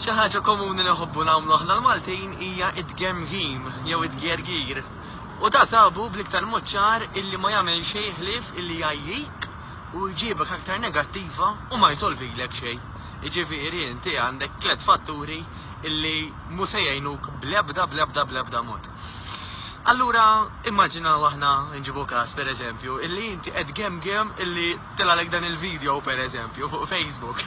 Xi ħaġa komuni li nħobbu nagħmlu aħna l-Maltin hija t-tgemgim jew it-tgergir. U da sabu bl-iktar mod ċar illi ma jagħmel xejn ħlief illi jgħajjik u jġibek aktar negattiva u ma jsolvilek xejn. Jiġifieri inti għandek tliet fatturi illi mhu se jgħinuk bl-ebda bl-ebda bl-ebda mod. Allura immaġinaw aħna nġibu każ pereżempju illi inti qed tgemgem illi Tilgħalek dan il-video per eżempju fuq Facebook.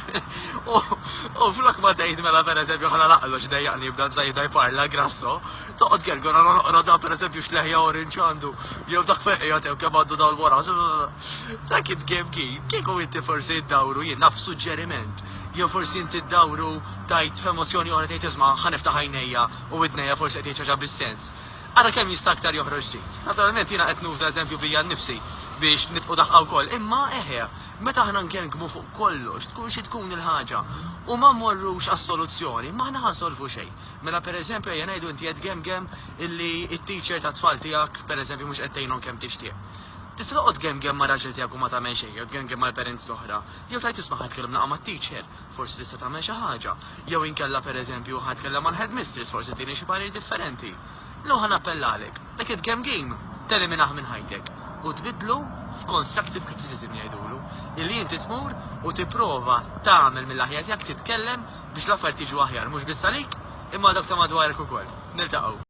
U flok ma tgħid mela per eżempju ħana laqlu x'dejjaqni jibda żajda jparla grasso, toqgħod kergor għal noqgħod dan per eżempju x'leħja orange għandu jew dak feqija tew kemm għandu dawl wara. Dak it game kien kieku inti forsi ddawru jien naf suġġeriment jew forsi inti ddawru tajt f'emozzjoni oħra tgħid isma' ħaniftaħ għajnejja u widnejja forsi qed jgħid xi ħaġa bis-sens. Ara kemm jista' aktar joħroġ ġid. Naturalment jiena qed nuża eżempju bija nnifsi biex nitqu daħqa wkoll, imma eħe, meta aħna ngergmu fuq kollox, tkun xi tkun il-ħaġa, u ma mmorrux għas-soluzzjoni, m'aħna ħa nsolvu xejn. Mela pereżempju ejja ngħidu inti qed gemgem illi t-teacher tat-tfal tiegħek pereżempju mhux qed tgħinhom kemm tixtieq. Tista' toqgħod tgemgem mar-raġel tiegħek u ma tagħmel xejn jew tgemgem mal-parents l-oħra, jew tgħid isma' ħa nitkellem nilqa' mat-teacher. Forsi tista' tagħmel xi ħaġa. Jew inkella, per eżempju, ħa nitkellem mal-headmistress, forsi tini xi parir differenti. Jew ħa nappellalek, dak id-game game, teliminah minn ħajtek u tbiddlu f'constructive criticism jgħidulu, illi inti tmur u tipprova tagħmel mill-aħjar tiegħek titkellem biex l-affarijiet jiġu aħjar mhux biss għalik imma għal dawk ta' madwarek ukoll. Niltaqgħu.